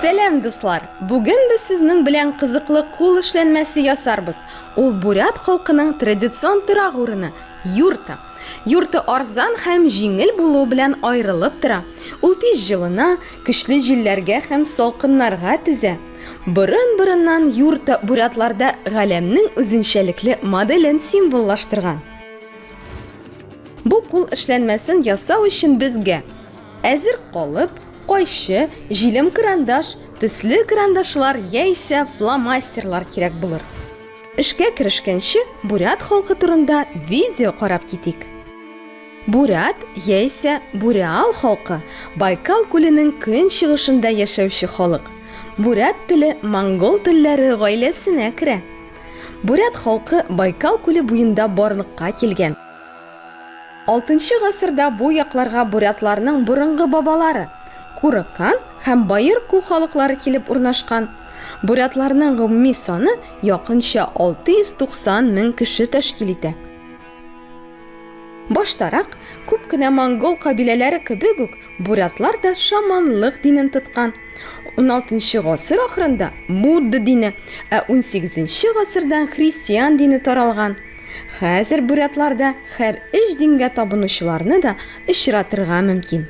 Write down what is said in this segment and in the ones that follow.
Сәлам дуслар! Бүген без сезнең белән кызыклы кул эшләнмәсе ясарбыз. Ул бурят халкының традицион торак урыны юрта. Юрта арзан һәм җиңел булуы белән аерылып тора. Ул тиз җылына, көчле җилләргә һәм салкыннарга түзә. Борын-борыннан юрта бурятларда галәмнең үзенчәлекле моделен символлаштырган. Бу кул эшләнмәсен ясау өчен безгә әзер калып, кайчы, җилем карандаш, төсле карандашлар яисә фломастерлар кирәк булыр. Эшкә керешкәнче, бурят халкы турында видео карап китик. Бурят яисә буряал халкы, Байкал күленең көнчыгышында яшәүче халык. Бурят теле монгол телләре гаиләсенә керә. Бурят халкы Байкал күле буенда барлыкка килгән. Алтынчы гасырда бу якларга бурятларның борынгы бабалары, Курыкан һәм Баер Ку халыклары килеп урнашкан. Бурятларның гомуми саны якынча 690 мең кеше тәшкил итә. Баштарак, күп кенә монгол кабиләләре кебек үк, бурятлар да шаманлык динен тоткан. 16 гасыр ахырында Будда дине, ә 18 гасырдан христиан дине таралган. Хәзер бурятларда хәр өч дингә табынучыларны да очратырга мөмкин.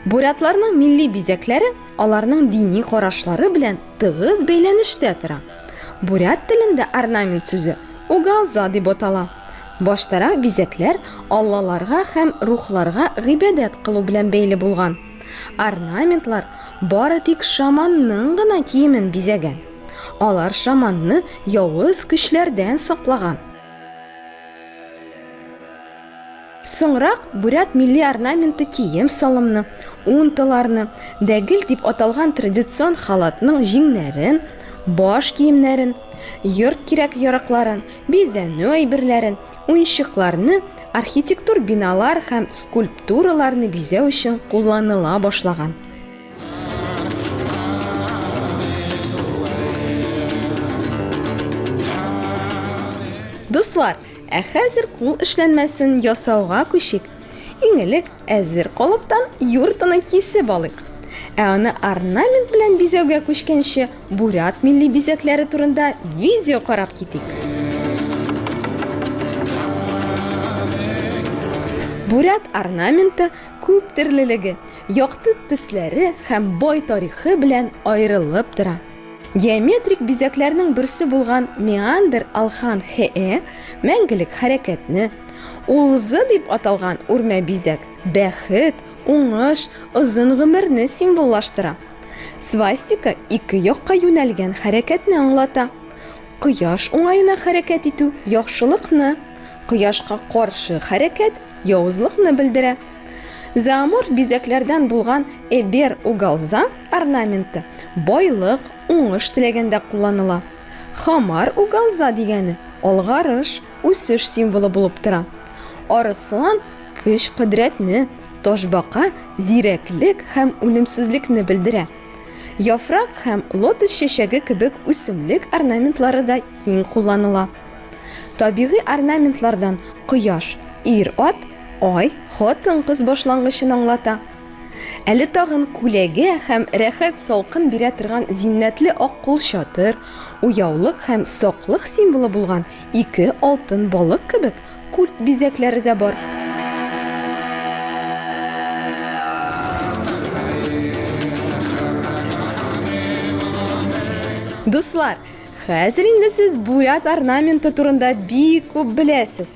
Бурятларның милли бизәкләре аларның дини карашлары белән тыгыз бәйләнештә тора. Бурят телендә орнамент сүзе угалза дип атала. Баштарак бизәкләр аллаларга һәм рухларга гыйбадәт кылу белән бәйле булган. Орнаментлар бары тик шаманның гына киемен бизәгән. Алар шаманны явыз көчләрдән саклаган. Соңрак бурят милли орнаменты кием-салымны, унталарны, дәгел дип аталган традицион халатның җиңнәрен, баш киемнәрен, йорт кирәк-яракларын, бизәнү әйберләрен, уенчыкларны, архитектур биналар һәм скульптураларны бизәү өчен кулланыла башлаган. Дуслар, Ә хәзер кул эшләнмәсен ясауга күчик. Иң элек әзер колыптан юртаны кисеп алыйк. Ә аны орнамент белән бизәүгә күчкәнче, бурят милли бизәкләре турында видео карап китик. Бурят орнаменты күп төрлелеге, якты төсләре һәм бай тарихы белән аерылып тора. Геометрик бизәкләрнең берсе булган меандр алхан хе-э мәңгелек хәрәкәтне, улзы дип аталган үрмә бизәк бәхет, уңыш, озын гомерне символлаштыра. Свастика ике якка юнәлгән хәрәкәтне аңлата. Кояш уңаена хәрәкәт итү, яхшылыкны, кояшка каршы хәрәкәт, явызлыкны белдерә. Зооморф бизәкләрдән булган Эбер угалза Орнаменты, байлык, уңыш теләгәндә кулланыла. Хамар угалза дигәне, алгарыш, үсеш символы булып тора. Арыслан, көч-кодрәтне, ташбака, зирәклек һәм үлемсезлекне белдерә. Яфрак һәм лотос чәчәге кебек үсемлек орнаментлары да киң кулланыла. Табигый орнаментлардан кояш, ир-ат, ай, хатын-кыз башлангычын аңлата. Әле тагын күләгә һәм рәхәт салкын бирә торган зиннәтле ак кулчатыр, уяулык һәм саклык символы булган ике алтын балык кебек культ бизәкләре дә бар. Дуслар, хәзер инде сез бурят орнаменты турында бик күп беләсез.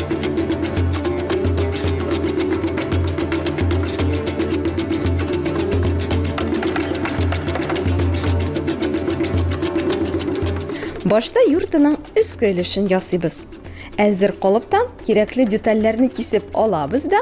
Башта юртының өске өлешен ясыйбыз. Әзер колыптан кирәкле детальләрне кисеп алабыз да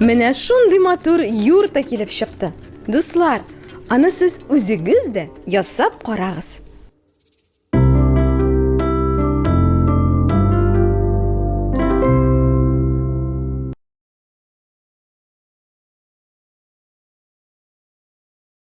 Менә шундый матур юрта килеп чыкты. Дуслар, аны сез үзегез дә ясап карагыз.